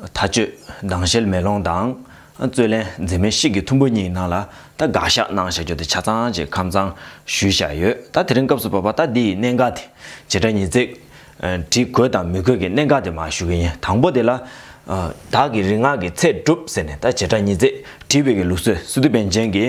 མཐའ་དཔྱོད་སྡང་ཞལ་མེ་ལོང་དང། རྩོད་ལན་མཛེས་མའི་གཤིས་ཀྱི་ཐུམ་པོ་གཉིས་ནང་ལ་ད་དགག་བཞག་གནང་བཞག་རྒྱུ་དེ་ཆ་ཚང་ཅིག་ཁམས་གཙང་ཞུས་བཞག་ཡོད་ད་དེ་རིང་སྐབས་སུ་བབ་པ་ད་འདི་ཡི་གནད་འགག་དེ་བྱེ་བྲག་ཉིས་བརྩེགས། བྲིས་དགོས་དང་མི་དགོས་ཀྱི་གནད་འགག་དེ་མ་ཞུ་གི་ཡིན་དང་པོ་དེ་ལ། བདག་གི་རིག་སྔགས་ཀྱི་ཚད་གྲུབ་ཟེར་ནས་ད་བྱེ་བྲག་ཉིས་བརྩེགས་བྲིས་བོད་ཀྱི་ལུགས་སྲོལ་སི་ཏུ་པན་ཅན་གྱི།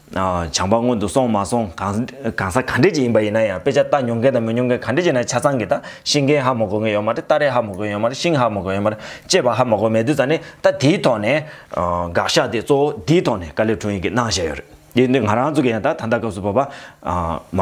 བྱང་པ་སྔོན་དུ་སོང་མ་སོང་གང་ཟག་ག་འདྲས་ཅིག་ཡིན་པ་ཡིན་ན་ཡང་དཔེ་ཆ་ལྟ་མྱོང་མཁན་དང་མི་མྱོང་མཁན་ག་འདྲས་ཅིག་ན་ཆ་ཚང་གི་ད་ཤིང་རྒན་ཧ་མོ་གོ་མཁན་ཡོད་མ་རེད་སྟ་རེ་ཧ་མོ་གོ་མཁན་ཡོད་མ་རེད་ཤིང་ཧ་མོ་གོ་མཁན་ཡོད་མ་རེད་ཅེས་པ་ཧ་མོ་གོ་མེད་དུས་ཙང་ནི་ད་དེའི་ཐོག་ནས་དགག་བཞག་དེ་གཙོ་བོ་འདིའི་ཐོག་ནས་དཀའ་ལས་འཕྲོ་ཡིན་གི་གནང་བཞེད་ཡོད་རེད་དེ་ནི་ང་རང་ཚོ་གི་ཡང་ད་ད་ལྟ་སྐབས་སུ་བབ་པ་མ་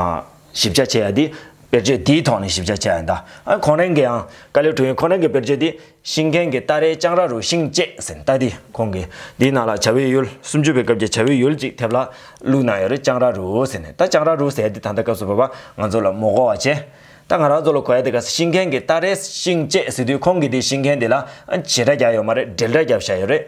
ཞིབ་ཆ་བྱས་ཡ་དེ་དཔེར་བརྗོད་དེའི་ཐོག་ནས་ཞིབ་ཆ་བྱས་ཡ་འདའ། གོང་རེང་གི་ཡང་ཀ་ལེའུ་དྲུག་ཡིན་གོང་རེང་གི་དཔེར་བརྗོད་དེ་ཤིང་མཁན་གྱི་རྟ་རའི་ལྕང་ར་རུ་ཤིང་བཅད་ཟིན་རྟ་དེ་ཁོང་གི་དེའི་ནང་ལ་བྱ་བའི་ཡུལ་སུམ་བཅུ་པའི་སྐབས་ཀྱི་བྱ་བའི་ཡུལ་ཅིག་ཐེབས་ལ་བླུགས་གནང་ཡོད་རེད་ལྕང་ར་རུ་ཟེར་ནས་ད་ལྕང་ར་རུ་ཟེར་དེ་ད་ལྟ་སྐབས་སུ་བབ་པ་ང་ཚོ་ལ་མོ་གོ་བ་བྱེད། ད་ང་རང་ཚོ་ལ་གོ་ཡ་དེ་ག་ས་ཤིང་མཁན་གྱི་རྟ་རའི་ཤིང་བཅད་ཟིན་དུས་ཁོང་གི་དེའི་ཤིང་མཁན་དེ་ལ་བྱེད་སྒྲ་རྒྱག་ཡོད་མ་རེད་འགྲེལ་སྒྲ་རྒྱབ་བཞག་ཡོད་རེད།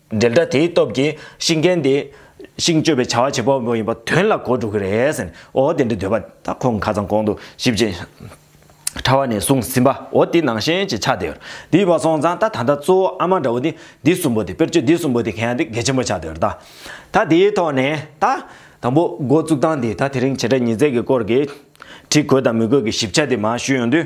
འགྲེལ་སྒྲ་དེའི་སྟོབས་ཀྱིས་ཤིང་རྒན་དེ། ཤིང་གཅོད་པའི་བྱ་བ་བྱེད་པོ་ཡིན་པ་དོན་ལ་གོ་འགྲོ་གི་རེད་ཟེར་ནས་འོ་དེ་འདྲའི་འདོད་པ་ད་ཁོང་ཁ་ཚང་གོང་དུ་ཞིབ་ཅིང་ཕྲ་བ་ནས་བཟུང་ཟིན་པ་འོ་དེ་ནང་བཞིན་གྱི་ཆགས་བསྡད་འདི་བ་སོང་ཙང་ད་ད་ལྟ་གཙོ་བོ་ཨ་མ་འདྲ་བོ་དེ་འདི་གསུམ་པོ་དེ་དཔེར་བརྗོད་འདི་གསུམ་པོ་དེ་གན་ཡང་དེ་གལ་ཆེན་པོ་ཆགས་བསྡད་ད། ད་དེའི་ཐོག་ནས་ད། དང་པོ་འགོ་བཙུགས་སྟངས་དེ་ད་དེ་རིང་བྱེད་སྒྲ་ཉིས་བརྩེགས་ཀྱི་སྐོར་གྱི། བྲིས་དགོས་དང་མི་དགོས་ཀྱི་ཞིབ་ཆ་དེ་མ་ཞུས་ཡོང་དུས།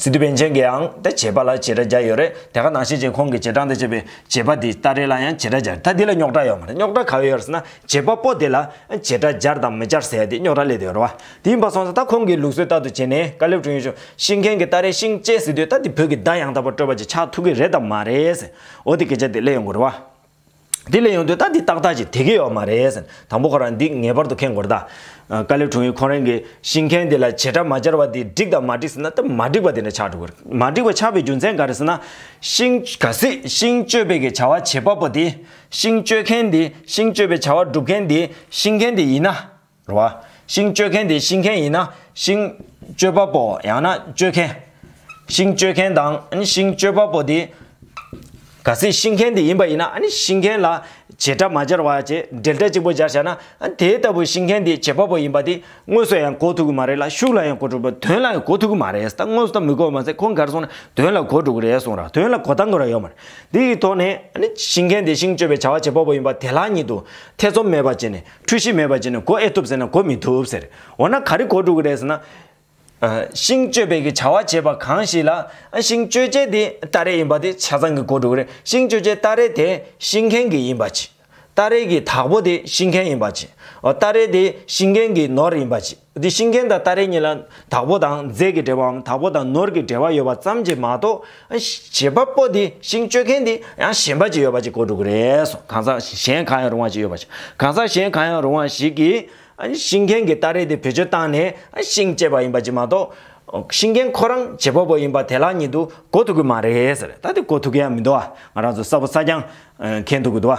སི་ཏུ་པན་ཆེན་གྱིའང་དེ་བྱེད་པ་ལ་བྱེད་སྒྲ་སྦྱར་ཡོད་རེད་དེ་ག་ནང་བྱེད་ཅིང་ཁོང་གིས་བྱེད་སྒྲ་འདི་བྱེད་པའི་བྱེད་པ་དེ་ལྟ་རེ་ལ་ཡང་བྱེད་སྒྲ་སྦྱར་ད་འདི་ལ་རྙོག་སྒྲ་ཡོད་མ་རེད་རྙོག་སྒྲ་ག་བའི་ཡོད་ཟེར་ན་བྱེད་པ་པོ་དེ་ལ་བྱེད་སྒྲ་སྦྱར་དང་མི་སྦྱར་ཟེར་ཡ་དེ་རྙོག་སྒྲ་སླེབས་དུས་རེད་བ་དེ་ཡིན་པ་སོང་ཟེར་ད་ཁོང་གིས་ལུགས་སྲོལ་ལྟར་དུ་བྱེད་ནས་བཀའ་སླེབས་བྱུང་ཡོད་ཆུང་ཤིང་མཁན་གྱི་ད་རེ་ཤིང་བཅད་ཟེར་དུས་ད་འདི་བོད་ཀྱི་སྒྲ་ཡང་དག་པར་སྤྲོས་པ་ཅིག་ཆགས་ཐུག་གི་རེད་དམ་མ་རེད་ཟེར་འོ་དེ་སྐད་ཆ་དེ་གླེང་ཡོང་གི་རེད་བ། དེ་ལས་ཡོང་དུས་ད་འདི་ཏག་ཏག་ཅིག་དེ་གི་ཡོག་མ་རེད། དང་པོ་ཁོ་རང་འདི་ངེས་པར་དུ་མཁྱེན་དགོས་རེད་ད། ཀ་ལེ་གྲོང་ཡུལ་ཁོང་རང་གི་ཤིང་མཁན་དེ་ལ་བྱེད་སྒྲ་མ་སྦྱར་བ་དེ་འགྲིག་དང་མ་འགྲིག་ཟེར་ན་ད་མ་འགྲིག་པ་དེ་འདྲ་ཆགས་འགྲོ་གི་རེད། མ་འགྲིག་པ་ཆགས་པའི་རྒྱུ་མཚན་ག་རེ་ཟེར་ན། ཤིང། ག་སྲིད་ཤིང་གཅོད་པའི་གི་བྱ་བ་བྱེད་པ་པོ་དེ། ཤིང་གཅོད་མཁན་དེ། ཤིང་གཅོད་པའི་བྱ་བ་སྒྲུབ་མཁན་དེ། ཤིང་མཁན་དེ་ཡིན་ན། རུང་བ། ཤིང་གཅོད་མཁན་དེ་ཤིང་མཁན་ཡིན་ན་ཤིང་གཅོད་པ་པོ་ཡང་ན་གཅོད་མཁན། ཤིང་གཅོད་མཁན་དང་ཤིང་གཅོད་པ་པོ་དེ་ག་སྲིད་ཤིང་མཁན་དེ་ཡིན་པ་ཡིན་ན་ཤིང་མཁན་ལ་བྱེད་སྒྲ་མ་སྦྱར་བ་བྱེད་འབྲེལ་སྒྲ་གཅིག་པོ་སྦྱར་བྱ་ན་དེ་ལྟ་བུ་ཤིང་མཁན་དེ་བྱེད་པ་པོ་ཡིན་པ་དེ་དངོས་སུ་ཡང་གོ་ཐུག་གི་མ་རེད་ལ་ཤུགས་ལ་ཡང་གོ་ཐུག་པ་དོན་ལ་ཡང་གོ་ཐུག་གི་མ་རེད་ད་དངོས་སུ་ད་མི་གོ་བ་མ་ཟད་ཁོང་གར་སོང་ན་དོན་ལ་གོ་འགྲོ་གི་རེད་གསུངས་ར་དོན་ལ་གོ་བལྟ་འགོ་ར་ཡོད་མ་རེད་འདི་ཡི་ཐོག་ནས་ཤིང་མཁན་དེ་ཤིང་གཅོད་པའི་བྱ་བ་བྱེད་པ་པོ་ཡིན་པ་དེ་ལ་ཉིད་དུ་ཐེ་ཚོམ་མེད་པ་བྱས་ནས་འཁྲུལ་གཞི་མེད་པར་བྱས་ནས་གོ་ཨེ་ཐུབ་ཟེར་ན་གོ་མི་ཐུབ་ཟེར། འོ་ན་ག་རེ་གོ་འགྲོ་གི་རེད་ཟེར་ན། ཤིང་གཅོད་པའི་གི་བྱ་བ་བྱེད་པ་གང་ཞིག་ལ། ཤིང་གཅོད་བྱེད་དེ་སྟ་རེ་ཡིན་པ་དེ་བྱ་ཚང་གི་གོ་འགྲོ་གི་རེད། ཤིང་གཅོད་བྱེད་སྟ་རེ་དེ་ཤིང་མཁན་གི་ཡིན་པ་གྱིས། སྟ་རེ་གི་དྭགས་པོ་དེ་ཤིང་མཁན་ཡིན་པ་གྱིས། སྟ་རེ་དེ་ཤིང་མཁན་གི་ནོར་ཡིན་པ་གྱིས། འདི་ཤིང་མཁན་དང་སྟ་རེ་གཉིས་ལ་དྭགས་པོ་དང་རྫས་ཀྱི་འབྲེལ་བའམ་དྭགས་པོ་དང་ནོར་གྱི་འབྲེལ་བ་ཡོད་པ་ཙམ་གྱིས་མ་གཏོགས། བྱེད་པ་པོ་དེ་ཤིང་གཅོད་མཁན་དེ་ཡང་གཞན་པ་ཅིག་ཡོད་པ་ཅིག་གོ་འགྲོ་གི་རེད་སོང་གང་ཟག་གཞན་གང་ཡང་རུང་བ་ཅིག་ཡོད་པ་ཞིག་གང་ཟག་གཞན་གང་ཡང་རུང་བ་ཞིག་གིས། ཤིང་མཁན་གྱིས་སྟ་རེ་དེ་བེད་སྤྱོད་བཏང་ནས་ཤིང་བཅད་པ་ཡིན་པ་ཅིག་མ་གཏོགས། ཤིང་མཁན་ཁོ་རང་བྱེད་པ་པོ་ཡིན་པ་དེ་ལག་ཉིད་དུ་གོ་ཐུབ་ཀྱི་མ་རེད་ཟེར་ད་དེ་གོ་ཐུབ་ཀྱི་ཡང་མི་འདུག་ང་རང་ཚོ་གསར་བུ་གསར་རྐྱང་མཁན་འདུག་གི་འདུག་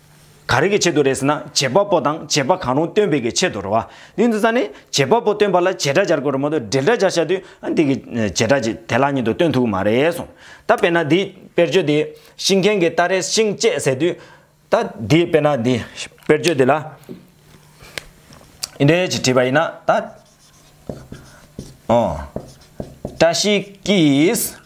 ག་རེ་གི་ཆེད་དུ་རེད་ཟེར་ན་བྱེད་པ་པོ་དང་བྱེད་པ་གང་རུང་སྟོན་པའི་གི་ཆེད་དུ་རེད་བ། དེ་འདུག་ས་ནི་བྱེད་པ་པོ་སྟོན་པ་ལ་བྱེད་སྒྲ་སྦྱར་དགོས་རེད་མ་གཏོགས་འབྲེལ་སྒྲ་སྦྱར་བྱ་དུས་ཨ་འདི་གི་བྱེད་སྒྲ་གྱིས་དེ་ལག་ཉིད་དུ་སྟོན་ཐུག་གི་མ་རེད་གསུངས། ད་དཔེར་ན་འདིའི་དཔེར་བརྗོད་དེ་ཤིང་མཁན་གྱི་སྟ་རེ་ཤིང་བཅད་ཟེར་དུས། ད་འདིའི་དཔེར་ན་འདི་དཔེར་བརྗོད་འདི་ལ་ཨིན་རལ་གྱིས་བྲིས་པ་ཡིན་ན་ད། ཨོ། བཀྲ་ཤིས་ཀྱིས།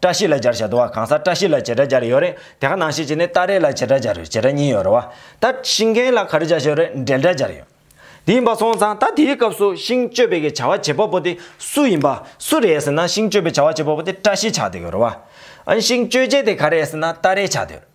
བཀྲ་ཤིས་ལ་སྦྱར་བྱ་དུ་བ་གང་ཟག་བཀྲ་ཤིས་ལ་བྱེད་སྒྲ་སྦྱར་ཡོད་རེད་དེ་ག་ནང་ཤེས་བྱེད་ནི་སྟ་རེ་ལ་བྱེད་སྒྲ་སྦྱར་ཡོད་བྱེད་སྒྲ་གཉིས་ཡོད་རེད་བ་ད་ཤིང་མཁན་ལ་ག་རེ་བྱ་ཞེས་རེད་འགྲེལ་སྒྲ་སྦྱར་ཡོད་དེ་ཡིན་པ་སོང་ཙང་ད་དེའི་སྐབས་སུ་ཤིང་གཅོད་པའི་གི་བྱ་བ་བྱེད་པ་པོ་དེ་སུ་ཡིན་པ་སུ་རེད་ཟེར་ན་ཤིང་གཅོད་པའི་བྱ་བ་བྱེད་པ་པོ་དེ་བཀྲ་ཤིས་ཆགས་དུ་ཡོད་རེད་བ་ཨན་ཤིང་གཅོད་བྱེད་དེ་ག་རེད་ཟེར་ན་སྟ་རེ་ཆགས་དུ་ཡོད།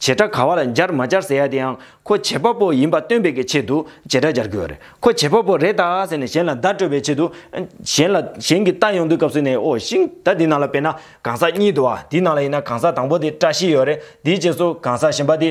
བྱེད་སྒྲ་ག་བ་ལ་སྦྱར་མ་སྦྱར་ཟེར་ཡ་དེ་ཡང་ཁོ་བྱེད་པ་པོ་ཡིན་པ་སྟོན་པའི་གི་ཆེད་དུ་བྱེད་སྒྲ་སྦྱར་དགོས་བ་རེད་ཁོ་བྱེད་པ་པོ་རེད་ད་ཟེར་ནས་གཞན་ལ་བརྡ་སྤྲོད་པའི་ཆེད་དུ་གཞན་ལ་གཞན་གི་རྟ་ཡོང་དུས་སྐབས་སུ་ནས་ཨོ་ཤིང་ད་འདི་ནང་ལ་བེད་ན་གང་ཟག་གཉིས་འདུག་ཨ་འདི་ནང་ལ་ཡིན་ན་གང་ཟག་དང་པོ་དེ་བཀྲ་ཤིས་ཡོད་རེད་དེའི་རྗེས་སུ་གང་ཟག་གཞན་པ་དེ་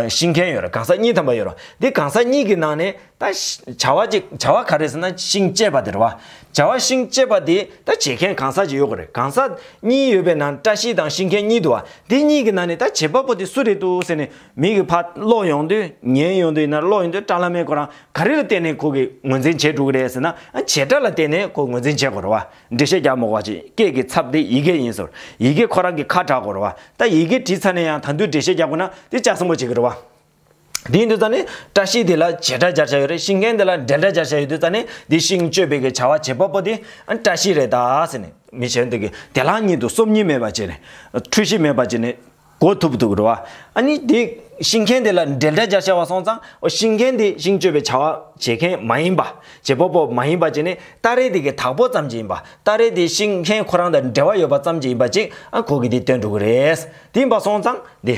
ཤིང་མཁན་ཡོད་རེད་གང་ཟག་གཉིས་ཐམ་པ་ཡོད་རོ་འདི་གང་ཟག་གཉིས་ཀྱི་ནང་ནས། ད་བྱ་བ་ཅིག་བྱ་བ་ག་རེ་ཟེར་ན་ཤིང་བཅད་པ་དེ་རེད་བ། བྱ་བ་ཤིང་བཅད་པ་དེ་ད་བྱེད་མཁན་གང་ཟག་ཅིག་ཡོད་དགོས་རེད་གང་ཟག་གཉིས་ཡོད་པའི་ནང་བཀྲ་ཤིས་དང་ཤིང་མཁན་གཉིས་འདུག་བ་དེ་གཉིས་ཀྱི་ནང་ནས་ད་བྱེད་པ་པོ་དེ་སུ་རེད་འདུག་ཟེར་ནས་མིག་གི་ཕར་སློག་ཡོང་དུས་ཉན་ཡོང་དུས་ཡིན་ན་སློག་ཡོང་དུས་བཀྲ་ལྷ་མའི་ཁོ་རང་ག་རེ་ལ་བརྟེན་ནས་ཁོ་གི་ངོས་འཛིན་བྱས་འགྲོ་གི་རེད་ཟེར་ན་བྱེད་སྒྲ་ལ་བརྟེན་ནས་ཁོ་ངོས་འཛིན་བྱེད་དགོས་རེད་བ་འགྲེལ་བཤད་རྒྱག་མི་དགོས་བ་ཅིག་སྐད་ཀྱི་ཚབ་དེ་ཡི་གེ་ཡིན་ཟེར་ཡི་གེ་ཁོ་རང་གི་ཁ་གྲག་དགོས་རེད་བ་ད་ཡི་གེ་བྲིས་ཚར་ནས་ཡང་ད་འདུས་འགྲེལ་བཤད་རྒྱག་དགོས་ན་དེ་ཅག་སྲིན་པོ་བྱེད་ཀྱི་རེད་བ། དེའི་འདུལ་རྩ་ནི། བཀྲ་ཤིས་དེ་ལ་བྱེ་བྲག་སྦྱར་བྱ་ཡོད་རེད་ཤིང་མཁན་དེ་ལ་འབྲེལ་སྒྲ་སྦྱར་བྱ་ཡོད་འདུལ་རྩ་ནི་དེ་ཤིང་གཅོད་པའི་གི་བྱ་བ་བྱེད་པ་པོ་དེ་བཀྲ་ཤིས་རེད་ད་ཟེར་ནས་མི་བྱེད་འདུག་གི་དེ་ལ་ཉིད་དུ་སོམ་ཉི་མེད་པར་བྱས་ནས། འཁྲུལ་གཞི་མེད་པར་བྱས་ནས་གོ་ཐུབ་འདུག་རེད་བ། ཨ་ནི་དེ་ཤིང་མཁན་དེ་ལ་འབྲེལ་སྒྲ་སྦྱར་བྱ་བ་སོང་ཙང་ཤིང་མཁན་དེ་ཤིང་གཅོད་པའི་བྱ་བ་བྱེད་མཁན་མ་ཡིན་པ། བྱེད་པ་པོ་མ་ཡིན་པ་བྱས་ནས་སྟ་རེ་དེ་གི་དག་པོ་ཙམ་གྱི་ཡིན་པ་སྟ་རེ་དེ་ཤིང་མཁན་ཁོ་རང་དང་འབྲེལ་བ་ཡོད་པ་ཙམ་གྱི་ཡིན་པ་ཅིག་ཨ་གོ་གི་དེ་སྟོན་འགྲོ་གི་རེད། དེ་ཡིན་པ་སོང་ཙང་དེ།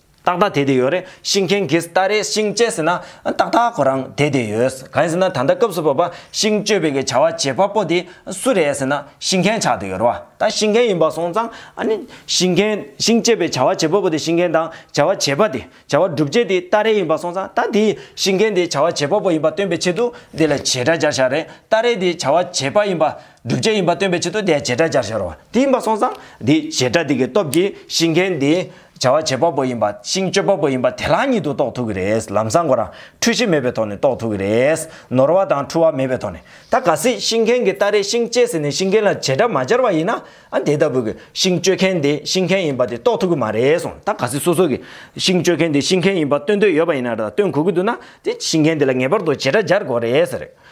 ཏག་ཏག་དེ་དེ་ཡོད་རེད་ཤིང་མཁན་གིས་ལྟ་རེད་ཤིང་བཅད་ཟེར་ན་ཏག་ཏག་ཁོ་རང་དེ་དེ་ཡོད་གང་ཡིན་ཟེར་ན་ད་ལྟ་སྐབས་སུ་བབ་པ་ཤིང་གཅོད་པའི་གི་བྱ་བ་བྱེད་པ་པོ་དེ་སུ་རེད་ཟེར་ན་ཤིང་མཁན་ཆགས་དེ་ཡོད་རེད་བ་ད་ཤིང་མཁན་ཡིན་པ་སོང་ཙང་ཨ་ནི་ཤིང་མཁན་ཤིང་བཅད་པའི་བྱ་བ་བྱེད་པ་པོ་དེ་ཤིང་མཁན་དང་བྱ་བ་བྱེད་པ་དེ་བྱ་བ་སྒྲུབ་བྱེད་དེ་ལྟ་རེད་ཡིན་པ་སོང་ཙང་ད་དེ་ཤིང་མཁན་དེ་བྱ་བ་བྱེད་པ་པོ་ཡིན་པ་སྟོན་པའི་ཆེད་དུ་དེ་ལ་བྱེད་སྒྲ་སྦྱར་བྱ་རེད་ལྟ་རེད་དེ་བྱ་བ་བྱེད་པ་ཡིན་པ་བསྒྲུབ་བྱ་ཡིན་པ་སྟོན་པའི་ཆེད་དུ་དེའི་བྱེ་བྲག་སྦྱར་བྱར་རོ། དེ་ཡིན་པར་སོང་ཙང། དེ་བྱེ་བྲག་དེ་གའི་སྟོབས་ཀྱིས་ཤིང་མཁན་དེ། བྱ་བ་བྱེད་པ་པོ་ཡིན་པ་ཤིང་གཅོད་པ་པོ་ཡིན་པ་དེ་ལ་ཉིད་དུ་རྟོགས་ཐུབ་ཀྱི་རེད། ལམ་བཟང་གོ་རང་འཁྲུལ་གཞི་མེད་པའི་ཐོག་ནས་རྟོགས་ཐུབ་ཀྱི་རེད། ནོར་བ་དང་འཁྲུལ་བ་མེད་པའི་ཐོག་ནས། ད་ག་སྲིད་ཤིང་མཁན་གྱིས་སྟ་རེས་ཤིང་བཅད་ཟིན་ནས་ཤིང་མཁན་ལ་བྱེ་བྲག་མ་སྦྱར་བ་ཡིན་ན། ཨ་དེ་ལྟ་བུ་གི་ཤིང་གཅོད་མཁན་དེ་ཤིང་མཁན་ཡིན་པ་དེ་རྟོགས་ཐུབ་ཀྱི་མ་རེད་གསུངས། ད་ག་སྲིད་སོ་སོ་གི། ཤིང་གཅོད་མཁན་དེ་ཤིང་མཁན་ཡིན་པ་སྟོན་འདོད་ཡོད་པ་ཡིན་ན། སྟོན་དགོས་ཀྱི་འདུག་ན། དེ་ཤིང་མཁན་དེ་ལ་ངེས་པར་དུ་བྱེ་བྲག་སྦྱར་དགོས་རེད་ཟེར།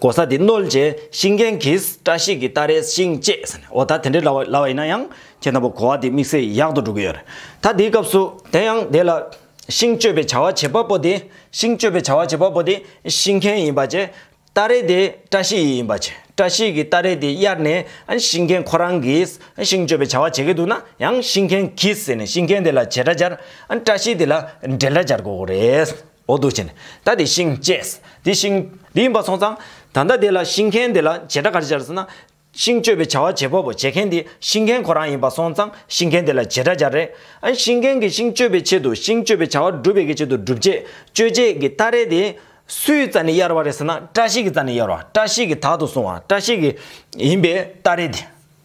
གོ་ས་དེ་བསྣོལ་རྗེས་ཤིང་རྒན་གྱིས་བཀྲ་ཤིས་ཀྱི་སྟ་རེ་བཞེངས་བཅས་ཟེར་ནས་འོ་ད་དེ་འདྲའི་ལ་བ་ཡིན་ན་ཡང་ཁྱེད་དང་པོ་གོ་བ་དེ་དམིགས་བསལ་ཡག་ཏུ་འགྲོ་གི་ཡོད་རེད་ད་དེའི་སྐབས་སུ། དེ་ཡང་དེ་ལ་ཤིང་གཅོད་པའི་བྱ་བ་བྱེད་པ་པོ་དེ་ཤིང་གཅོད་པའི་བྱ་བ་བྱེད་པ་པོ་དེ་ཤིང་རྒན་ཡིན་པ་བཅས་སྟ་རེ་དེ་བཀྲ་ཤིས་ཡི་ཡིན་པ་བཅས་བཀྲ་ཤིས་ཀྱི་སྟ་རེ་དེ་གཡར་ནས་ཤིང་རྒན་ཁོ་རང་གིས་ཤིང་གཅོད་པའི་བྱ་བ་བྱེད་ཀྱི་འདུག་ན་ཡང་ཤིང་རྒན་གྱིས་ཟེར་ནས་ཤིང་རྒན་དེ་ལ་བྱེད་སྒྲ་སྦྱར་བཀྲ་ཤིས་དེ་ལ་འགྲེལ་སྒྲ་སྦྱར་དགོས་གི་རེད། འོ་དུག་ཅན། ད་དེ་ཤིང། བཅས། དེ་ཤིང། དེ་ཡིན་པ་སོང་ཙང། ད་ལྟ་དེ་ལ་ཤིང་མཁན་དེ་ལ་བྱེ་བྲག་ག་རེ་སྦྱར་ཟེར་ན། ཤིང་གཅོད་པའི་བྱ་བ་བྱེད་པ་པོ་བྱེད་མཁན་དེ་ཤིང་མཁན་ཁོ་རང་ཡིན་པ་སོང་ཙང་ཤིང་མཁན་དེ་ལ་བྱེ་བྲག་སྦྱར་རེད། ཨ་ཤིང་མཁན་གྱིས་ཤིང་གཅོད་པའི་ཆེད་དུ་ཤིང་གཅོད་པའི་བྱ་བ་བསྒྲུབ་པའི་གི་ཆེད་དུ་བསྒྲུབ་བྱའི་གཅོད་བྱེད་ཀྱི་སྟ་རེ་དེ། སུའི་རྩ་ནས་གཡར་བ་རེད་ཟེར་ན་བཀྲ་ཤིས་ཀྱི་རྩ་ནས་གཡར་བ་བཀྲ་ཤིས་ཀྱི་དག་ཏུ་སོང་བ་བཀྲ་ཤིས་ཀྱི་ཡིན་པའི་སྟ་རེ་དེ།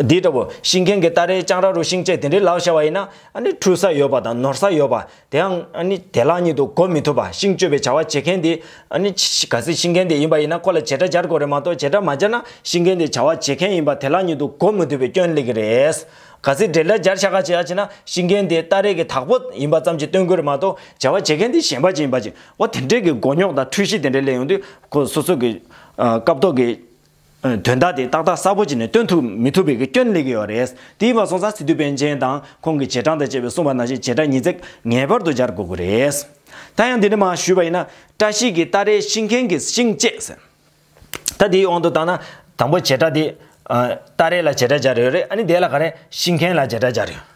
འདི་ལྟ་བུ། ཤིང་མཁན་གྱི་སྟ་རེའི་ལྕང་ར་རུ་ཤིང་བཅད་དེ་འདྲའི་ལག་ཤར་བ་ཡིན་ན། འཁྲུད་ས་ཡོད་པ་དང་ནོར་ས་ཡོད་པ། དེའང། དེ་ལག་གཉིས་དུ་གོ་མི་ཐུབ་པ། ཤིང་གཅོད་པའི་བྱ་བ་བྱེད་མཁན་དེ། ག་སྲིད་ཤིང་མཁན་དེ་ཡིན་པ་ཡིན་ན་ཁོ་ལ་བྱེད་སྒྲ་སྦྱར་དགོས་རེད་མ་གཏོགས་བྱེད་སྒྲ་མ་སྦྱར་ན་ཤིང་མཁན་དེ་བྱ་བ་བྱེད་མཁན་ཡིན་པ་དེ་ལག་གཉིས་དུ་གོ་མི་ཐུབ་པའི་སྐྱོན་གླེང་གི་རེད། ག་སྲིད་འབྲེལ་སྒྲ་སྦྱར་ཤ་ཁ་བྱས་ཡ་བྱས་ན་ཤིང་མཁན་དེ་སྟ་རེ་གི་དྭགས་པོ་ཡིན་པ་ཙམ་གྱིས་སྟོན་དགོས་རེད་མ་གཏོགས་བྱ་བ་བྱེད་མཁན་དེ་གཞན་པ་ཅིག་ཡིན་པ་ཅིག། འོ་དེ་འདྲའི་གི་མགོ་རྙོག་དང་འཁྲུལ་གཞི་དེ་འདྲའི་གླེང་ཡོང་དུས། ཁོ་སོ་སོ་གི། སྐབས་ཐོག་གི། དོན་དག་དེ་ཏག་ཏག་གསལ་པོ་བྱས་ནས་སྟོན་ཐུབ་མི་ཐུབ་པའི་སྐྱོན་གླེང་གི་ཡོད་རེད། དེའི་བར་སོང་ཙང་སི་ཏུ་པཎ་ཆེན་དང་ཁོང་གི་བྱེད་སྟངས་དང་བཅས་པའི་གསུང་བ་ནང་བཞིན་བྱེད་སྒྲ་ཉིས་བརྩེགས་ངེས་པར་དུ་སྦྱར་དགོས་ཀྱི་རེད། ད་ཡང་འདི་འདྲ་མ་ཞུས་པ་ཡིན་ན། བཀྲ་ཤིས་ཀྱི་སྟ་རེ་ཤིང་མཁན་གྱི་ཤིང་བཅད་ཟེར། ད་དེའི་དབང་དུ་བཏང་ན། དང་པོ་བྱེད་སྒྲ་དེ། སྟ་རེ་ལ་བྱེད་སྒྲ་སྦྱར་ཡོད་རེད་ཨ་ནི་དེ་ལ་ག་རེ་ཤིང་མཁན་ལ་བྱེད་སྒྲ་སྦྱར་ཡོད།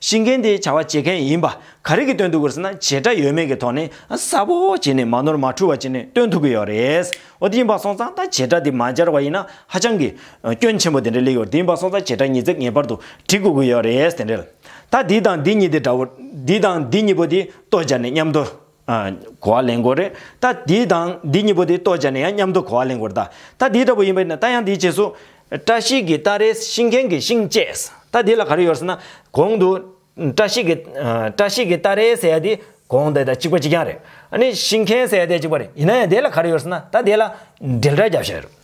ཤི་མཁན་དེ་བྱ་བ་བྱེད་མཁན་ཡིན་པ་ག་རེ་གི་སྟོན་ཐུབ་དགོས་ཟེར་ན་བྱེད་སྒྲ་ཡོད་མེད་ཀྱི་ཐོག་ནས་གསལ་པོ་བྱས་ནས་མ་ནོར་མ་འཁྲུལ་བ་བྱས་ནས་སྟོན་ཐུབ་ཀྱི་ཡོད་རེད། འོ་དེ་ཡིན་པ་སོང་ཙང་ད་བྱེད་སྒྲ་དེ་མ་སྦྱར་བ་ཡིན་ན་ཧ་ཅང་གི། སྐྱོན་ཆེན་པོ་དེ་འདྲ་སླེབས་ཡོད་རེད་དེ་ཡིན་པ་སོང་ཙང་བྱེད་སྒྲ་ཉིས་བརྩེགས་ངེས་པར་དུ་བྲི་དགོས་ཀྱི་ཡོད་རེད་དེ་འདྲ། ད་འདི་དང་འདི་གཉིས་དེ་འདྲ་བོ། འདི་དང་འདི་གཉིས་པོ་དེ་ལྟོ་སྦྱར་ནས་མཉམ་དུ། གོ་བ་ལེན་དགོས་རེད་ད། འདི་དང་འདི་གཉིས་པོ་དེ་ལྟོས་བྱས་ནས་ཡང་མཉམ་དུ་གོ་བ་ལེན་དགོས་རེད་ད། ད་འདི་ལྟ་བུ་ཡིན་པ་ན་ད་ཡང་འདིའི་རྗེས་སུ། བཀྲ་ཤིས་ཀྱི་སྟ་རེ་ཤིང་མཁན་གྱི་ཤིང་བཅས། ད་འདི་ལ་ག་རེ་ཡོད་ཟེར་ན། གོང་དུ། བཀྲ་ཤིས་ཀྱི། བཀྲ་ཤིས་ཀྱི་སྟ་རེ་ཟེར་ཡ་དེ། གོང་དེ་དང་གཅིག་པ་གཅིག་རྐྱང་རེད། ཨ་ནི་ཤིང་མཁན་ཟེར་ཡ་དེ་གཅིག་པ་རེད་ཡིན་ན་ཡང་དེ་ལ་ག་རེ་ཡོད་ཟེར་ན་ད་དེ་ལ། འགྲེལ་སྒྲ་རྒྱབ་ཤ་ཡོད་རེད།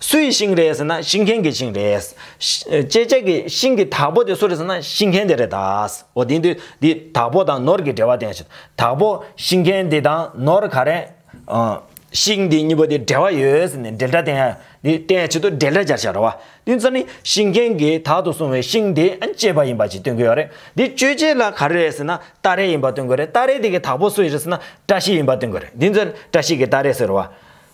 སུའི་ཤིང་རེད་ཟེར་ན་ཤིང་མཁན་གྱི་ཤིང་རེད། ཅེ་ཅེ་ཀྱི་ཤིང་གི་དྭགས་པོ་དེ་སུ་རེད་ཟེར་ན་ཤིང་མཁན་དེ་རེད། འོ་དེ་འདི་འདི་དྭགས་པོ་དང་ནོར་གྱི་འབྲེལ་བ་བསྟན་ཞིག་དྭགས་པོ་ཤིང་མཁན་འདི་དང་ནོར་ག་རེ། ཤིང་འདི་གཉིས་པོ་དེ་འབྲེལ་བ་ཡོད་ཟེར་ནས་འབྲེལ་སྒྲ་བསྟན། འདི་བསྟན་ཕྱིར་དུ་འབྲེལ་སྒྲ་སྦྱར་བྱ་རོ། དེ་ཚོ་ནི་ཤིང་མཁན་གྱིས་དྭགས་དུ་བཟུང་བའི་ཤིང་དེ་གཅེས་པ་ཡིན་པ་ཞིག་སྟོན་གྱི་ཡོད་རེད། འདི་གཅོད་བྱེད་ལ་ག་རེ་རེད་ཟེར་ན་སྟ་རེ་ཡིན་པ་སྟོན་གྱི་རེད་སྟ་རེ་དེ་གི་དྭགས་པོ་སུ་ཡིན་རེད་ཟེར་ན་བཀྲ་ཤིས་ཡིན་པ་སྟོན་གྱི་རེད་འདི་ཚོ་བཀྲ་ཤིས་ཀྱི་སྟ་རེ་ཟེར་རོ།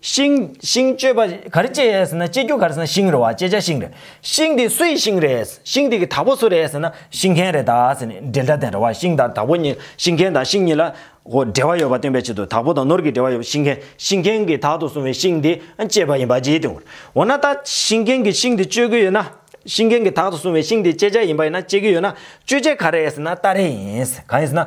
ཤིང། ཤིང་གཅོད་པ། ག་རེ་གཅད་ཟེར་ན་གཅད་རྒྱུ་ག་རེ་ཟེར་ན་ཤིང་རེད་བ་གཅད་བྱ་ཤིང་རེད། ཤིང་དེ་སུ་ཡི་ཤིང་རེད། ཤིང་དེ་གི་དྭགས་པོ་སུ་རེད་ཟེར་ན་ཤིང་མཁན་རེད་ད་ཟེར་ནས་འབྲེལ་སྒྲ་ལྡན་རེད་བ་ཤིང་དང་དྭགས་པོ་གཉིས་ཤིང་མཁན་དང་ཤིང་གཉིས་ལ། འོ་འབྲེལ་བ་ཡོད་པ་སྟོན་པའི་ཆེད་དུ་དྭགས་པོ་དང་ནོར་གྱི་འབྲེལ་བ་ཡོད་པ་ཤིང་མཁན་ཤིང་མཁན་གྱི་དྭགས་དུ་སོང་བའི་ཤིང་དེ་གཅད་པ་ཡིན་པ་གཅད་དུ་འོ་ན་ད་ཤིང་མཁན་གྱི་ཤིང་དེ་གཅོད་གི་ཡོད་ན། ཤིང་མཁན་གྱི་དྭགས་དུ་སོང་བའི་ཤིང་དེ་གཅད་བྱ་ཡིན་པ་ཡིན་ན་གཅད་གི་ཡོད་ན་གཅོད་བྱེད་ག་རེད་ཟེར་ན་རྟ་རེད་ཡིན། ག་ཡིན་ཟེར་ན།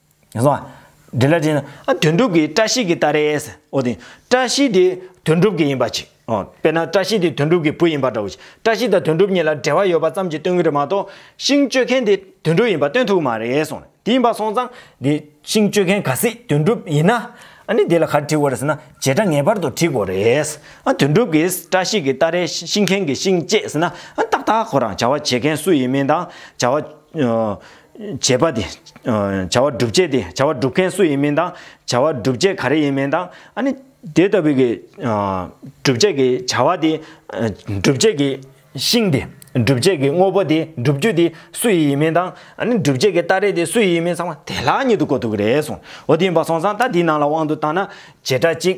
དེ་ལ་དྲིས་ན། དོན་གྲུབ་ཀྱིས་བཀྲ་ཤིས་ཀྱི་ལྟ་རེས། ཨོ་དེ། བཀྲ་ཤིས་དེ་དོན་གྲུབ་ཀྱི་ཡིན་པ་ཅི། དཔེར་ན་བཀྲ་ཤིས་དེ་དོན་གྲུབ་ཀྱི་བུ་ཡིན་པ་འདྲ་བོ་ཅི། བཀྲ་ཤིས་དང་དོན་གྲུབ་གཉིས་ལ་འབྲེལ་བ་ཡོད་པ་ཙམ་གྱིས་སྟོན་གྱི་རེད་མ་གཏོགས། ཤིང་གཅོད་མཁན་དེ་དོན་གྲུབ་ཡིན་པ་སྟོན་ཐུབ་ཀྱི་མ་རེད་གསུངས། དེ་ཡིན་པ་སོང་ཙང། དེ་ཤིང་གཅོད་མཁན་ག་སྲིད་དོན་གྲུབ་ཡིན་ན། ཨ་ནི་དེ་ལ་གར་བྲིས་འོ་རེད་ཟེར་ན་བྱེ་བྲག་ངེས་པར་དུ་བྲིས་དགོས་རེད། ཨ་དོན་གྲུབ་ཀྱིས་བཀྲ་ཤིས་ཀྱི་ལྟ་རེས་ཤིང་མཁན་གྱི་ཤིང་བཅད་ཟེར་ན། ཨ་ཏག་ཏག་ཁོ་རང་བྱ་བ་བྱེད་མཁན་སུ་ཡིན་མིན་དང་བྱ་བ། བྱེད་པ་དེ། བྱ་བ་སྒྲུབ་བྱེད་དེ། བྱ་བ་སྒྲུབ་མཁན་སུ་ཡིན་མིན་དང། བྱ་བ་སྒྲུབ་བྱེད་ག་རེ་ཡིན་མིན་དང། ཨ་ནི། དེ་ལྟ་བུའི། སྒྲུབ་བྱེད་ཀྱི་བྱ་བ་དེ། སྒྲུབ་བྱེད་ཀྱི། ཤིང་དེ། སྒྲུབ་བྱེད་ཀྱི་དངོས་པོ་དེ། སྒྲུབ་རྒྱུ་དེ། སུ་ཡི་ཡིན་མིན་དང། ཨ་ནི། སྒྲུབ་བྱེད་ཀྱི་སྟ་རེ་དེ་སུ་ཡི་ཡིན་མིན་ཚང་མ་དེ་ལྷག་ཉིད་དུ་གོ་ཐུབ་ཀྱི་རེད་གསུངས། འོ་དེ་ཡིན་པ་སོང་ཙང་ད་དེའི་ནང་ལ་དབང་དུ་བཏང་ན། བྱེ་བྲག་གཅིག།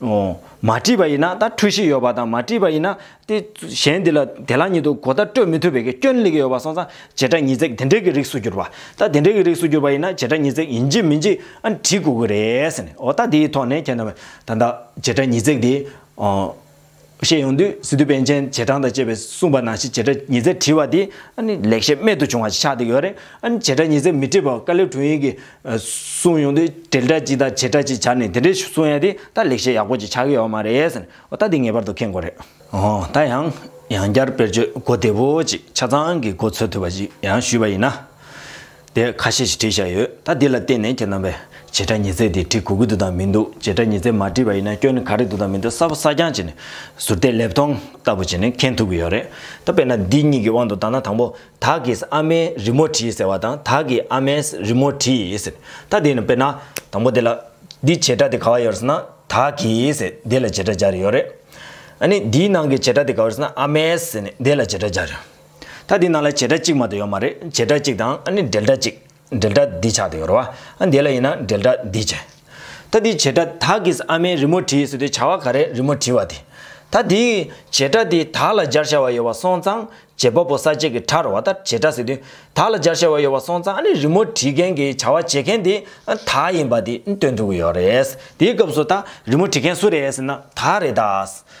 མ་བྲིས་པ་ཡིན་ན་ད་འཁྲུལ་གཞི་ཡོད་པ་དང་མ་བྲིས་པ་ཡིན་ན། དེ་གཞན་འདི་ལ་དེ་ལ་ཉིད་དུ་གོ་བརྡ་སྤྲོད་མི་ཐུབ་པའི་སྐྱོན་ལེགས་ཡོད་པ་སོང་ཙང་བྱེ་བྲག་ཉིས་བརྩེགས་དེ་འདྲའི་གི་རིགས་སུ་གྱུར་པ། ད་དེ་འདྲའི་གི་རིགས་སུ་གྱུར་པ་ཡིན་ན་བྱེ་བྲག་ཉིས་བརྩེགས་ཡིན་གཅིག་མིན་གཅིག་ཨང་བྲིས་དགོས་ཀྱི་རེད། ཨོ་ད་དེའི་ཐོག་ནས་ཁྱེད་རྣམ་པས་ད་བྱེ་བྲག་ཉིས་བརྩེགས་དེ། བཤད་ཡོང་དུས་སི་ཏུ་པན་ཆེན་བྱེ་ཕྲང་དང་བཅས་པས་གསུངས་པ་ནང་བཞིན་བྱེ་བྲག་ཉིས་བརྩེགས་བྲིས་བ་དེ་ལེགས་བཤད་རྨད་དུ་བྱུང་བ་ཞིག་ཆགས་བསྡད་ཡོད་རེད། བྱེ་བྲག་ཉིས་བརྩེགས་མི་བྲིས་པར་བཀའ་ལེབ་དྲུང་ཡིག་གིས་གསུངས་ཡོང་དུས་དྲིལ་བསྒྲགས་ཅིག་དང་བྱེ་བྲག་ཅིག་བྱ་ནས་དེ་འདྲའི་གསུང་ཡ་དེ་ད་ལེགས་བཤད་ཡག་པོ་ཅིག་ཆགས་ཀྱི་ཡོད་མ་རེད་ཟེར་ནས་ད་དེ་ངེས་པར་དུ་ཁེངས་དགོས་རེད། འོ་ད་ཡང་ཡང་བསྐྱར་དཔེར་བརྗོད་གོ་བདེ་བོ་ཅིག་ཆ་ཚང་གི་གོ་ཚོད་ཐུབ་པ་ཞིག་ཡང་ཞུས་པ་ཡིན་ན། དེ་ཁ་ཤས་ཤིག་བྲིས་བཞག་ཡོད་ད་འདི་ལ་བརྟེན་ནས་ཁྱེད་རྣམ་པས་བྱེ་བྲག་ཉི་རྩེ་དེ་བྲིས་གུ་གུ་འདུག་དང་མི་འདུག་བྱེ་བྲག་ཉི་རྩེ་མ་བྲིས་པ་ཡིན་ན་སྐྱོན་ནི་ག་རེ་འདུག་དང་མི་འདུག་གསར་བ་གསར་རྐྱང་བྱས་ནས་ཟུར་བལྟས་ལེབ་མཐོང་ལྟ་བུ་བྱས་ནས་མཁྱེན་ཐུབ་ཀྱི་ཡོད་རེད་ད་དཔེར་ན་འདི་གཉིས་ཀྱི་དབང་དུ་བཏང་ན་དང་པོ་དག་གིས་ཨ་མའི་རི་མོ་བྲིས་ཟེར་བ་དང་དག་གིས་ཨ་མའི་རི་མོ་བྲིས་ཟེར་ད་དེ་ནི་དཔེར་ན་དང་པོ་དེ་ལ་འདི་བྱེ་བྲག་དེ་ག་བ་ཡོད་རེད་ཟེར་ན་དག་གིས་ཟེར་འདི་ལ་བྱེ་བྲག་སྦྱར་ཡོད་རེད། ཨ་ནི་འདིའི་ནང་གི་བྱེ་བྲག་དེ་ག་བ་རེད་ཟེར་ན་ཨ་མའི་ཟེར་ནས་འདི་ལ་བྱེ་བྲག་སྦྱར་ཡོད། ད་འདི་ནང་ལ་བྱེད་སྒྲ་གཅིག་མ་དུ་ཡོད་མ་རེད་བྱེད་སྒྲ་གཅིག་དང་ཨ་ནི་འབྲེལ་སྒྲ་གཅིག། འབྲེལ་སྒྲ་འདི་ཆགས་དུ་ཡོད་རོ། ཨ་འདི་ལ་ཡིན་ན་འབྲེལ་སྒྲ་འདི་བྱེད། ད་འདི་བྱེད་སྒྲ་དག་གིས་ཨ་མའི་རི་མོ་བྲིས་སོ་དེ་བྱ་བ་ག་རེ་རི་མོ་བྲིས་བ་དེ། ད་འདི། བྱེད་སྒྲ་དེ་དག་ལ་སྦྱར་བྱ་བ་ཡོད་བ་སོང་ཙང་བྱེད་པ་པོ་ས་བཅད་ཀྱི་ཁྲར་བ་ད་བྱེད་སྒྲ་ཟེར་དུས་དག་ལ་སྦྱར་བྱ་བ་ཡོད་བ་སོང་ཙང་ཨ་ནི་རི་མོ་བྲིས་མཁན་གྱི་བྱ་བ་བྱེད་མཁན་དེ་དག་ཡིན་པ་དེ་སྟོན་ཐུབ་ཀྱི་ཡོད་རེད། དེའི་སྐབས་སུ་ད་རི་མོ་བྲིས་མཁན་སུ་རེད་ཟེར་ན་དག་རེད་ད།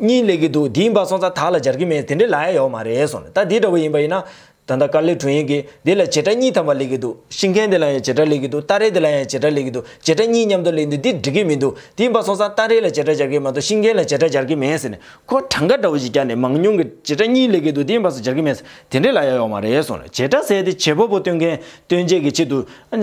གཉིས་ལས་ཀྱི་འདུག་དེའི་འབའ་སོང་ཚ་དག་ལ་སྦྱར་གྱི་མེད་དེ་འདྲའི་ལ་ཡ་ཡོག་མ་རེད་གསུངས་ནས་ད་དེ་འདྲ་བོ་ཡིན་པ་ཡིན་ན། ད་ལྟ་དཀར་ལེགས་དྲུང་ཡིག་གིས་དེ་ལ་བྱེ་བྲག་གཉིས་ཐམ་པ་ལེགས་ཀྱི་འདུག་ཤིང་མཁན་དེ་ལ་ཡང་བྱེ་བྲག་ལེགས་ཀྱི་འདུག་སྟ་རེ་དེ་ལ་ཡང་བྱེ་བྲག་ལེགས་ཀྱི་འདུག་བྱེ་བྲག་གཉིས་མཉམ་དུ་ལེགས་འདུག་འདི་འགྲིག་གི་མི་འདུག་དེའི་འབའ་སོང་ཚ་སྟ་རེ་ལ་བྱེ་བྲག་སྦྱར་གྱི་མ་གཏོགས་ཤིང་མཁན་ལ་བྱེ་བྲག་སྦྱར་གྱི་མེད་ཟེར་ནས་ཁོ་གྲངས་ཀ་འདྲ་བོ་ཞིག་བསྐྱར་ནས་མང་ཉུང་གི་བྱེ་བྲག་གཉིས་ལེགས་ཀྱི་འདུག་དེའི་འབའ་སོ་སྦྱར་གྱི་མེད་དེ་འདྲའི་ལ་ཡ་ཡོག་མ་རེད་གསུངས་ནས་བྱེ་བྲག་ཟེར་ཏེ་བྱེད་པོ་པོ་སྟོན་མཁན་སྟོན་བྱེད་ཀྱི་ཆེད་དུ། མ།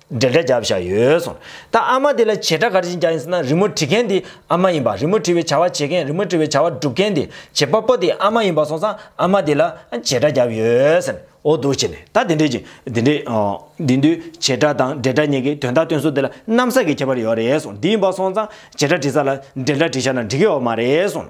འགྲེལ་བརྡ་རྒྱབ་བཞག་ཡོད་སོང། ད་ཨ་མ་དེ་ལ་བྱེད་སྒྲ་ག་རེ་བྱིན་རྒྱག་ཡིན་ཟེར་ན་རི་མོ་བྲི་མཁན་དེ་ཨ་མ་ཡིན་པ་རི་མོ་བྲི་བའི་བྱ་བ་བྱེད་མཁན་རི་མོ་བྲི་བའི་བྱ་བ་སྒྲུབ་མཁན་དེ་བྱེད་པ་པོ་དེ་ཨ་མ་ཡིན་པ་སོང་ཙང་ཨ་མ་དེ་ལ་བྱེད་སྒྲ་རྒྱབ་ཡོད་ཟེར། འོ་འདུག་བྱས་ནས་ད་དེ་འདྲས་ཀྱི་དེ་འདྲས། དེ་དུས་བྱེད་སྒྲ་དང་འགྲེལ་སྒྲ་གཉིས་ཀྱི་དོན་དག་སྟོན་ཚུལ་དེ་ལ་གནམ་ས་གི་ཁྱད་པར་ཡོད་རེད་སོང་དེ་ཡིན་པ་སོང་ཙང་བྱེད་སྒྲ་བྲི་ས་ལ་འགྲེལ་སྒྲ་བྲི་བཞག་ན་འགྲིག་གི་ཡོད་མ་རེད་སོང།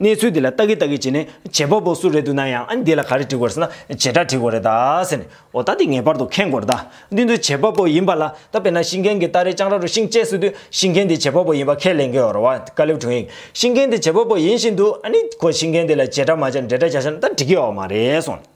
གནས་ཚུལ་འདི་ལ་ལྟ་གི་ལྟ་གི་བྱས་ནས་བྱེད་པ་པོ་སུ་རེད་འདུག་ན་ཡང་ཨ་ནི་འདི་ལ་ག་རེ་འགྲིག་དགོས་ཟེར་ན་བྱེ་བྲག་འགྲིག་དགོས་རེད་ད་ཟེར་ནས་འོ་ད་འདི་ངེས་པར་དུ་ཁེངས་དགོས་རེད་ད་འདི་ཚོ་བྱེད་པ་པོ་ཡིན་པ་ལ་ད་དཔེར་ན་ཤིང་མཁན་གྱི་སྟ་རེ་ལྕང་ར་རུ་ཤིང་བཅད་སྲིད་དུས་ཤིང་མཁན་དེ་བྱེད་པ་པོ་ཡིན་པ་ཁས་ལེན་དགོས་རེད་བ་དཀའ་ལེབ་དྲུང་ཡིག་ཤིང་མཁན་དེ་བྱེད་པ་པོ་ཡིན་བཞིན་དུ་ཨ་ནི་ཁོ་ཤིང་མཁན་དེ་ལ་བྱེ་བྲག་མ་བྱས་འབྲེལ་སྒྲ་བྱ་ཤར་ན་ད་འགྲིག་གི་ཨོ་མ་རེད་གསུངས།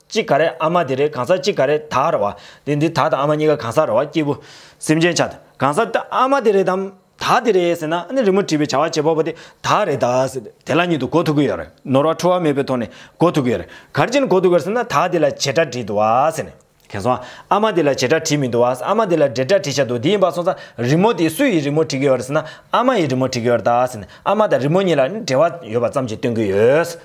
གཅིག་ག་རེ་ཨ་མ་དེ་རེ་གང་ཟག་གཅིག་ག་རེ་ད་རེ་བ། དེ་འདི་ད་དང་ཨ་མ་གཉིས་ཀ་གང་ཟག་རེ་བ་སྐྱེས་བུ། སེམས་ཅན་ཆགས་གང་ཟག་ད་ཨ་མ་དེ་རེད་དམ། ད་དེ་རེད་ཟེར་ན་ནི་རི་མོ་བྲིས་པའི་བྱ་བ་བྱེད་པ་པོ་དེ་ད་རེད་ད་ཟེར་ཏེ་དེ་ལ་ཉིད་དུ་གོ་ཐུབ་ཀྱི་ཡོད་རེད། ནོར་བ་འཁྲུལ་བ་མེད་པའི་ཐོག་ནས་གོ་ཐུབ་ཀྱི་ཡོད་རེད། གར་ཅན་གོ་ཐུབ་གི་ཟེར་ན་ད་དེ་ལ་བྱེད་སྒྲ་བྲིས་འདུག་བ་ཟེར་ནས། གན་སོང་ཨ་མ་དེ་ལ་བྱེད་སྒྲ་བྲིས་མི་འདུག་བ་ཨ་མ་དེ་ལ་འབྲེལ་སྒྲ་བྲིས་ཤག་འདུག་དེ་ཡིན་པ་སོང་ཙང་རི་མོ་དེ་སུ་ཡིས་རི་མོ་བྲིས་ཀྱི་ཡོད་རེད་ཟེར་ན་ཨ་མ་ཡིས་རི་མོ་བྲིས་ཀྱི་ཡོད་རེད་ད་ཟེར་ནས་ཨ་མ་དང་རི་མོ་གཉིས་ལ་ནི་འབྲེལ་བ་ཡོད་པ་ཙམ་ཞིག་སྟོན་གྱི་ཡོད།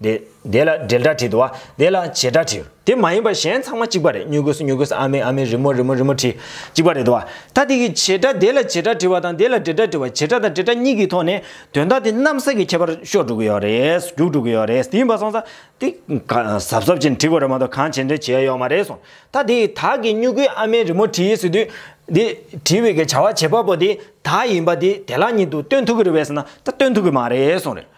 དེ། དེ་ལ་འབྲེལ་སྒྲ་བྲིས། དུ་བ། དེ་ལ་བྱེད་སྒྲ་བྲིས། དེ་མ་ཡིན་པར་གཞན་ཚང་མ་གཅིག་པ་རེད་སྨྱུ་གུ་སྨྱུ་གུ་ཨ་མའི་ཨ་མའི་རི་མོ་རི་མོ་རི་མོ་བྲིས། གཅིག་པ་རེད་དུ་བ། ད་དེ་གི་བྱེད་སྒྲ་དེ་ལ་བྱེད་སྒྲ་བྲིས་པ་དང་དེ་ལ་འབྲེལ་སྒྲ་བྲིས་པ་བྱེད་སྒྲ་དང་འབྲེལ་སྒྲ་གཉིས་ཀྱི་ཐོག་ནས་དོན་དག་དེ་གནམ་ས་གི་ཁྱད་པར་ཤོར་འགྲོ་གི་ཡོད་རེད། རྒྱུགས་འགྲོ་གི་ཡོད་རེད་དེ་ཡིན་པ་སོང་ཙང། དེ། གཟབ་གཟབ་བྱས་ནས་བྲིས་པ་རེད་མ་གཏོགས་གང་བྱས་འབྲེལ་བྱས་ཡོད་མ་རེད་སོང། ད་དེ་ད་གི་སྨྱུ་གུའི་ཨ་མའི་རི་མོ་བྲིས་ཟེར་དུས། དེ། བྲིས་པའི་གི་བྱ་བ་བྱེད་པ་པོ་དེ། ད་ཡིན་པ་དེ་དེ་ལག་གཉིས་འདུག་སྟོན་ཐུབ་གི་རེད་བས་ཟེར་ན་ད་སྟོན་ཐུབ་གི་མ་རེད་སོང་རེད།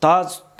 ད་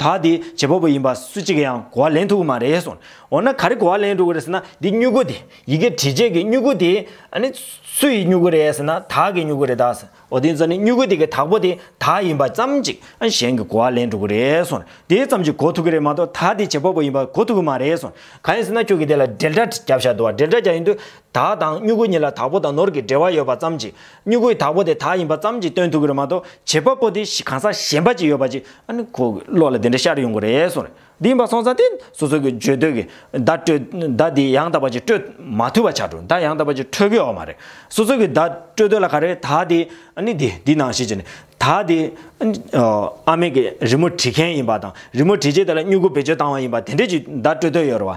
ད་དེ་བྱེད་པོ་པོ་ཡིན་པ་སུ་གཅིག་གི་ཡང་གོ་བ་ལེན་ཐུབ་ཀྱི་མ་རེད་ཟེར། འོ་ན་ག་རེ་གོ་བ་ལེན་འགྲོ་གི་རེད་ཟེར་ན་འདི་སྨྱུ་གུ་དེ་ཡི་གེ་བྲིས་རྗེས་ཀྱི་སྨྱུ་གུ་དེ་ནི་སུ་ཡི་སྨྱུ་གུ་རེད་ཟེར་ན་དག་གི་སྨྱུ་གུ་རེད་ད་ཟེར། འོ་དེ་ཚོ་ནི་སྨྱུ་གུ་དེ་གི་དག་པོ་དེ་དག་ཡིན་པ་ཙམ་ཅིག་གཞན་གྱི་གོ་བ་ལེན་འགྲོ་གི་རེད་ཟེར། དེ་ཙམ་ཅིག་གོ་ཐུབ་ཀྱི་རེད་མ་གཏོགས་ད་དེ་བྱེད་པོ་པོ་ཡིན་པ་གོ་ཐུབ་ཀྱི་མ་རེད་ཟེར། གང་ཡིན་ཟེར་ན་ཁྱོད་ཀྱིས་དེ་ལ་འགྲེལ་སྒྲ་རྒྱབ་ཤག་འདུག་བ་འགྲེལ་སྒྲ་རྒྱག་ཡུན་དུ་དག་དང་སྨྱུ་གུ་གཉིས་ལ་དག་པོ་དང་ནོར་གྱི་འབྲེལ་བ་ཡོད་པ་ཙམ་གྱིས་སྨྱུ་གུའི་དག་པོ་དེ་དག་ཡིན་པ་ཙམ་གྱིས་སྟོན་ཐུབ་ཀྱི་རེད་མ་གཏོགས་བྱེད་པ་པོ་དེ་གང་ཟག་གཞན་པ་ཅིག་ཡོད་པ་ཅིག་ཨ་ཁོ་བློ་ལ་དེ་འདྲ་ཤར་ཡོང་གི་རེད་གསུངས་རེད་འདི་ཡིན་པ་སོང་ཙང་དེ་སོ་སོ་གྱི་བརྗོད་འདོད་ཀྱི་བརྡ་སྤྲོད་བརྡ་དེ་ཡང་དག་པ་ཅིག་སྤྲོད་མ་ཐུབ་པ་ཆགས་འགྲོ་བརྡ་ཡང་དག་པ་ཅིག་འཕྲོད་གི་ཡོད་མ་རེད་སོ་སོ་གྱི་བརྡ་སྤྲོད་འདོད་ལ་ག་རེ་དག་དེ་དེ་འདི་ནང་བཞིན་བྱས་ནས་དག་དེ་ཨ་མེས་ཀྱི་རི་མོ་བྲིས་མཁན་ཡིན་པ་དང་རི་མོ་བྲིས་རྗེས་དེ་ལ་སྨྱུ་གུ་བེད་སྤྱོད་བཏང་བ་ཡིན་པ་དེ་འདྲས་ཀྱི་བརྡ་སྤྲོད་འདོད་ཡོད་རེད་བ།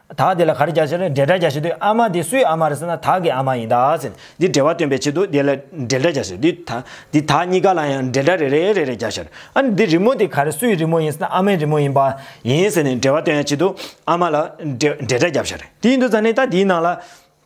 དག་དེ་ལ་ག་རེ་རྒྱག་བྱེད་ལ་འབྲེལ་སྒྲ་རྒྱག་བྱེད་དུས་ཨ་མ་དེ་སུའི་ཨ་མ་རེད་ཟེར་ན་དག་གི་ཨ་མ་ཡིན་དག་ཟེར་ནས་འདིར་འབྲེལ་བ་སྟོན་པའི་ཆེད་དུ་དེ་ལ་འབྲེལ་སྒྲ་རྒྱག་བྱེད་དུས་དག་འདི་དག་གཉིས་ཀ་ལ་ཡང་འབྲེལ་སྒྲ་རེ་རེ་རེ་རེ་རྒྱག་བྱེད་ཨ་ནི་འདི་རི་མོ་དེ་ག་རེ་སུའི་རི་མོ་ཡིན་ཟེར་ན་ཨ་མའི་རི་མོ་ཡིན་པ་ཡིན་ཟེར་ནས་འབྲེལ་བ་སྟོན་ཡ་ཆེད་དུ་ཨ་མ་ལ་འབྲེལ་སྒྲ་རྒྱག་བྱེད། དེ་ཡིན་དུ་ཟེར་ནས་ད་དེའི་ནང་ལ།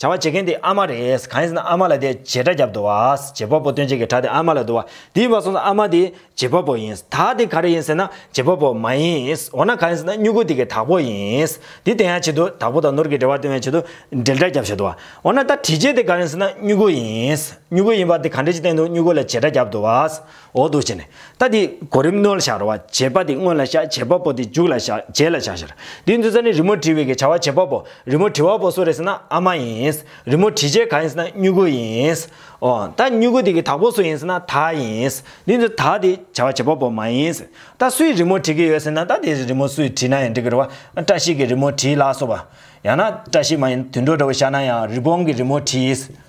བྱ་བ་བྱེད་མཁན་དེ་ཨ་མ་རེད། གང་ཡིན་ཟེར་ན་ཨ་མ་ལ་དེ་བྱེད་དྲ་རྒྱབ་དུ་བ། བྱེད་པ་པོ་སྟོན་བྱེད་ཀྱི་དྲ་དེ་ཨ་མ་ལ་དུ་བ། དེའི་བ་སོང་ཟེར་ཨ་མ་དེ་བྱེད་པ་པོ་ཡིན། དག་དེ་ག་རེ་ཡིན་ཟེར་ན་བྱེད་པ་པོ་མ་ཡིན། འོ་ན་གང་ཡིན་ཟེར་ན་སྨྱུ་གུ་དེ་གི་དག་པོ་ཡིན། དེ་དེ་ཡང་བྱེད་དུ་དག་པོ་དང་ནོར་གྱི་འབྲེལ་བ་སྟོན་བའི་ཆེད་དུ་འབྲེལ་དྲ་རྒྱབ་བྱེད་དུ་བ། འོ་ན་ད་དྲི་བྱེད་དེ་ག་རེ་ཡིན་ཟེར་ན་སྨྱུ་གུ་ཡིན། སྨྱུ་གུ་ཡིན་པ་དེ་ག་འདྲ་ཅིག་བསྟན་དུ་སྨྱུ་གུ་ལ་བྱེད་དྲ་རྒྱབ་དུ་བ། འོག་ཏུ་བྱས་ནས། རྟ་དེ་གོ་རིམ་རྣོ་ལ་བྱ་རོ་བ་བྱེད་པ་དེ་སྔོན་ལ་བྱ་བྱེད་པ་པོ་དེ་མཇུག་ལ་བྱ་རྗེས་ལ་བྱ་ཞེར། དེའི་མཛུས་རྩ་ནི་རི་མོ་བྲི་བའི་གི་བྱ་བ་བྱེད་པ་པོ་རི་མོ་བྲི་བ་པོ་སུ་རེད་ཟེར་ན་ཨ་མ་ཡིན། རི་མོ་བྲི་བྱེད་ག་ཡིན་ཟེར་ན་སྨྱུ་གུ་ཡིན། འོ། ད་སྨྱུ་གུ་དེ་གི་དག་པོ་སུ་ཡིན་ཟེར་ན་ད་ཡིན། དེའི་མཛུས་ད་དེ་བྱ་བ་བྱེད་པ་པོ་མ་ཡིན། ད་སུས་རི་མོ་བྲི་གི་ཡོད་ཟེར་ན་ད་དེ་རི་མོ་སུས་བྲིས་ན་ཡང་འགྲིག་གི་རེད་བ། བཀྲ་ཤིས་ཀྱིས་རི་མོ་བྲིས་ལགས་སོ་བ། ཡང་ན། བཀྲ་ཤིས་མ་ཡིན་དུད་འགྲོ་འདྲ་བོ་ཤར་ན་ཡང་རི་བོང་གིས་རི་མོ་བྲིས།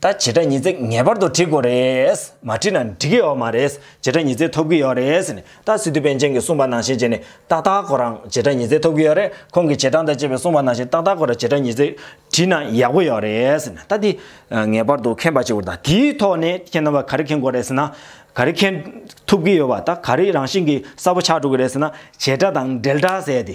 ད་བྱེད་སྒྲ་ཉི་ཚེ་ངེས་པར་དུ་འགྲིག་དགོས་རེད། མ་འགྲིག་ན་འགྲིག་གི་ཡོད་མ་རེད། བྱེད་སྒྲ་ཉི་ཚེ་ཐོབ་ཀྱི་ཡོད་རེད་ཟེར་ནས་ད་སི་ཏུ་པན་ཅན་གྱིས་གསུངས་པ་ནང་བཞིན་བྱས་ནས་ཏག་ཏག་ཁོ་རང་བྱེད་སྒྲ་ཉི་ཚེ་ཐོབ་ཀྱི་ཡོད་རེད། ཁོང་གིས་བྱེད་སྟངས་དང་བཅས་པའི་གསུངས་པ་ནང་བཞིན་ཏག་ཏག་ཁོ་རང་བྱེད་སྒྲ་ཉི་ཚེ་བྲིས་ན་ཡག་པོ་ཡོད་རེད་ཟེར་ནས་ད་དེ་ངེས་པར་དུ་མཁྱེན་པ་བྱེད་དགོས་རེད་ད་དེའི་ཐོག་ནས་མཁྱེན་ནམ་བ་ག་རེ་མཁྱེན་དགོས་རེད་ཟེར་ན། ག་རེ་མཁྱེན་ཐུབ་ཀྱི་ཡོད་བ་ད་ག་རེ་རང་བཞིན་གྱིས་གསལ་པོ་ཆགས་འགྲོ་གི་རེད་ཟེར་ན་བྱེད་སྒྲ་དང་འབྲེལ་སྒྲ་ཟེར་ཏེ་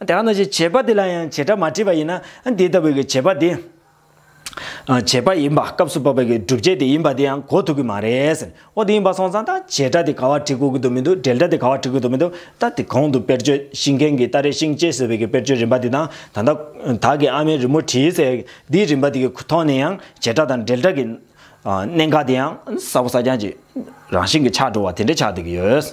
དེ་ལྟར་ན་ཞེས་བྱ་བ་འདི་ལ་ཡང་བྱེ་བྲག་མ་བྲིས་པ་ཡིན་ན་འདི་ལྟ་བུའི་གྱི་བྱེད་པ་དེ། བྱེད་པ་ཡིན་པ་སྐབས་སུ་བབ་པའི་གྱི་སྒྲུབ་བྱེད་དེ་ཡིན་པ་དེ་ཡང་གོ་ཐུབ་ཀྱི་མ་རེད། འོ་དེ་ཡིན་པ་སོང་ཙང་ད་བྱེ་བྲག་དེ་ག་བ་བྲི་དགོས་ཀྱི་འདུག་མི་འདུག་འགྲེལ་སྒྲ་དེ་ག་བ་བྲི་དགོས་འདུག་མི་འདུག་ད་དེ་གོང་དུ་དཔེར་བརྗོད་ཤིང་མཁན་གྱི་རྟ་རའི་ཤིང་ལྕེ་ཟེར་བའི་གྱི་དཔེར་བརྗོད་རིམ་པ་དེ་དང་ད་ལྟ་དག་གི་ཨ་མའི་རི་མོ་བྲིས་ཟེར་འདིའི་རིམ་པ་དེ་གི་ཐོག་ནས་ཡང་བྱེ་བྲག་དང་འགྲེལ་སྒྲ་གྱི། གནད་འགག་དེ་ཡང་ས་བོ་ས་རྐྱང་གྱི་རང་བཞིན་གྱི་ཆགས་འགྲོ་བ་དེ་འདྲ་ཆགས་སྡོད་ཀྱི་ཡོད།